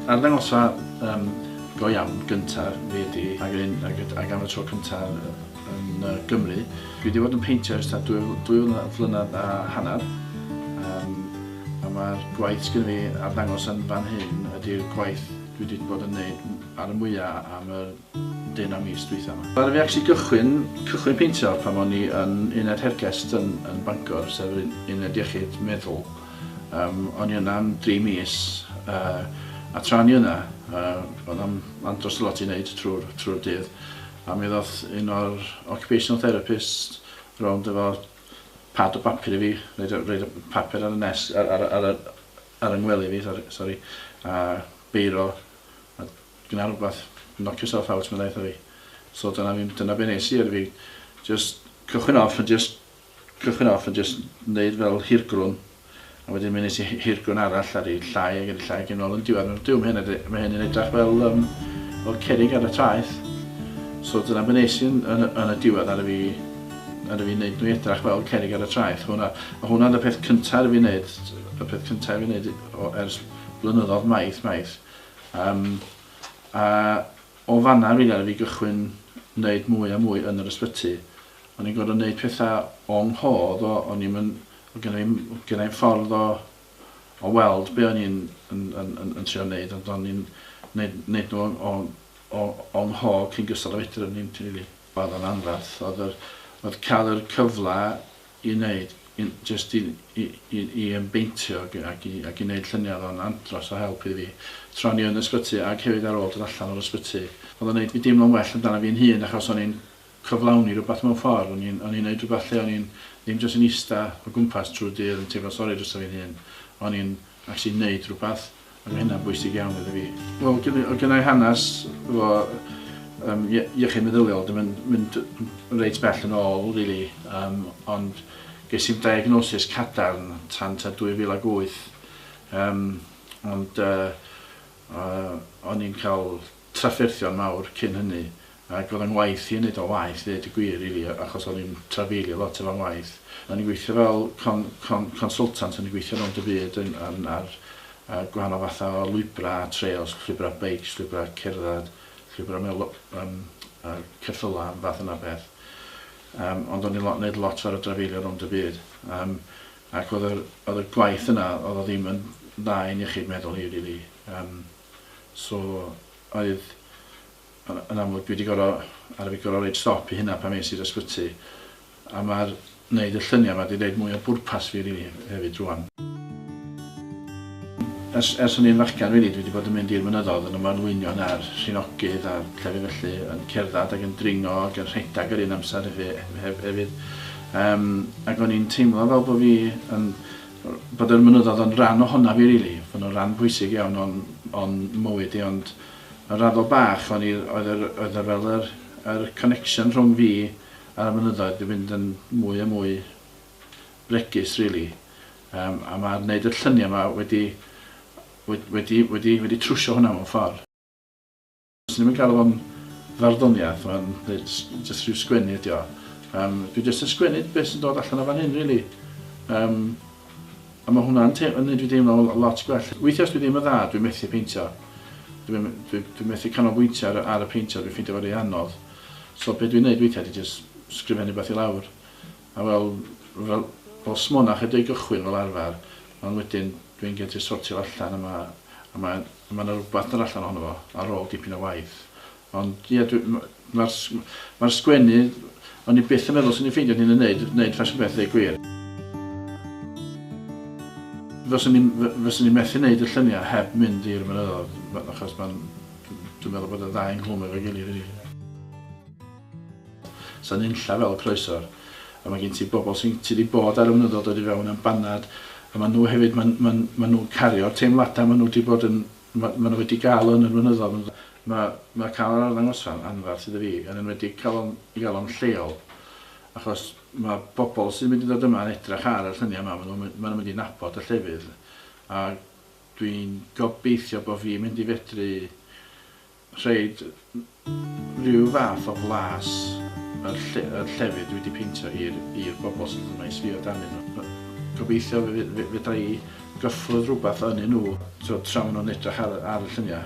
Arddangosfa yym go iawn gynta fi ydi ag hyn ag yd- ag am y tro cynta yn yy Gymru. Dwi 'di bod yn peintio ers tua dwy fl- dwy flyna- flynadd a hannar yym a ma'r gwaith sgynno fi arddangos yn fan hyn ydi'r gwaith dwi 'di bod yn neud ar y mwya am yr dyn am mis dwytha ma. Ddaru fi actually gychwyn cychwyn peintio pan o'n i yn uned hergest yn yn Bangor sef yr un- uned iechyd meddwl yym o'n i yna am dri mis yy a tra o'n i yna yy o'dd o'm andros o lot i neud trw'r trw'r dydd a mi ddoth un o'r occupational therapist rownd efo pad o bapur i fi roid y roid y papur ar y nes- ar ar y ar y ar yng ngwely fi sori sori a beiro a Gwna rhywbeth, knock yourself out, meddai wrtha fi. So dyna, dyna be nes i, oedd fi just cychwyn off yn just cychwyn off yn just neud fel hirgrwn a wedyn mi nes i hirgrwn arall ar ei llai ag ar ei llai ag yn ôl yn diwedd. Dyw mae hyn, mae hyn yn edrych fel, um, fel cerig ar y traeth. So dyna be nes i yn, yn, yn y diwedd ar y fi ar y fi wneud nhw edrych fel cerig ar y traeth. Hwna, a hwnna oedd y peth cyntaf ar y fi wneud, y peth cyntaf ar y fi wneud ers blynyddoedd maith, maith. Yym, a o fanna rili aru fi gychwyn neud mwy a mwy yn yr ysbyty. O'n i'n gor'o' neud petha o 'nghof o, o'n i'm yn, o' gynna i'm o' gynna i'm ffordd o o weld be' o'n i'n yn yn yn yn trio neud ond o'n i'n neud neud nw o o o 'nghof cyn gystal â fedru o'n i'n rili. O'dd o'n anferth o'dd yr o'dd ca'l yr cyfla i wneud, jyst i i i ymbeintio ac ac i ac i wneud lluniau oedd o'n andros o help i fi tra o'n i yn ysbyty ac hefyd ar ôl dod allan o'r ysbyty. Oedd o'n wneud fi deimlo'n well amdana fi'n hun achos o'n i'n cyflawni rhywbeth mewn ffordd, o'n i'n o'n i'n wneud rhywbeth lle o'n i'n ddim jyst yn ista o gwmpas trwy'r dydd yn teimlo sori drosta fi'n hun, o'n i'n actually wneud rhywbeth. Mae hynna'n bwysig iawn iddo fi. Wel, oedd gynna i hanes efo um, iechyd meddyliol, dim yn mynd reit bell yn ôl, really, um, ond ges i'n diagnosis cadarn tan ta 2008. Um, ond uh, uh, o'n i'n cael trafferthion mawr cyn hynny ac oedd o'n ngwaith i yn neud o'n waeth ddeud y gwir rili achos o'n i'n trafeilio lot efo'n ngwaith. O'n i'n gweithio fel con- con- consultant o'n i'n gweithio rownd y byd yn yn ar yy gwahanol fatha o lwybra' a trails, llwybra' beics, llwybra' cerdded, llwybra' mewn lo- yym yy ceffyla' a fath yna o beth. Yym ond o'n i'n lo- neud lot ar y drafeilio rownd y byd yym ac oedd yr oedd y gwaith yna oedd o ddim yn dda i'n iechyd meddwl i rili yym. So oedd yn amlwg dwi 'di goro ar fi goro roid stop i hynna pan es i'r ysbyty a ma'r neud y llynia 'ma 'di neud mwy o bwrpas fi rili hefyd rŵan. Ers ers o'n i'n fachgan rili dwi 'di bod yn mynd i'r mynyddodd yn ymanlwynion a'r rhinogydd a llefydd felly yn cerddad ag yn dringo ag yn rhedag yr un amser hefyd yym ag o'n i'n teimlo fel bo fi yn bod yr mynyddodd yn ran ohonaf i rili, bod nhw'n ran pwysig iawn o'n, o'n mywyd i ond yn raddol bach o'n i, oedd yr, oedd yr fel yr, yr connection rhwng fi a'r mynyddoedd di fynd yn mwy a mwy bregus rili. Um, a mae gwneud y lluniau yma wedi, wedi, wedi, wedi, wedi trwsio hwnna mewn ffordd. Swn i'm yn galw fo'n farddoniaeth, mae'n jyst rhyw sgwennu ydi o. Um, dwi jyst yn sgwennu beth sy'n dod allan o fan hyn, really. Um, a mae hwnna'n gwneud fi deimlo lot gwell. Weithiau os dwi ddim yn dda, dwi'n methu peintio. Dwi'n dwi, dwi methu canolbwyntio ar, ar y peintio, dwi'n ffeindio fo rei anodd. So beth dwi'n gwneud weithiau, dwi'n jyst sgrifennu beth i lawr. A wel, fel, fel smona chydig gychwyn fel arfer, ond wedyn dwi'n gen ti sortio fo allan a ma', a ma', a ma' 'na rwbath dod allan ohono fo ar ôl dipyn o waith. Ond ie dwi, m- ma'r s- ma'r sgwennu, o'n i byth yn meddwl swn i'n ffeindio hyn yn neud, neud ffasiwn beth ddeu gwir. Fyswn i'n, f- fyswn i'n methu neud y llynia heb mynd i'r mynyddodd, achos ma'n, dwi'n meddwl bod y ddau yn clwm efo'i gilydd rili. Sa nunlla fel croesor. A ma gen ti bobl sy'n ti di bod ar y mynyddodd dod i fewn am banad a ma nhw hefyd ma ma ma nhw'n cario'r teimlada ma nhw di bod yn ma ma nhw wedi gael yn yr mynyddodd ond ma ma cael yr arddangosfa yn anfarth iddo fi yn enwedig cael o'n i gael o'n lleol achos ma bobl sy'n mynd i ddod yma yn edrach ar y llynia yma ma nhw'n ma nhw'n mynd i nabod y llefydd a dwi'n gobeithio bo fi'n mynd i fedru rhaid rhyw fath o flas yr lle- yr llefydd dwi 'di peintio i'r i'r bobl sydd yma i sbio arnyn nhw. Yy gobeithio fe fe fedra i gyffwrdd rhywbeth ynyn nhw t'wod tra ma' nhw'n edrych ar y ar y llunia'.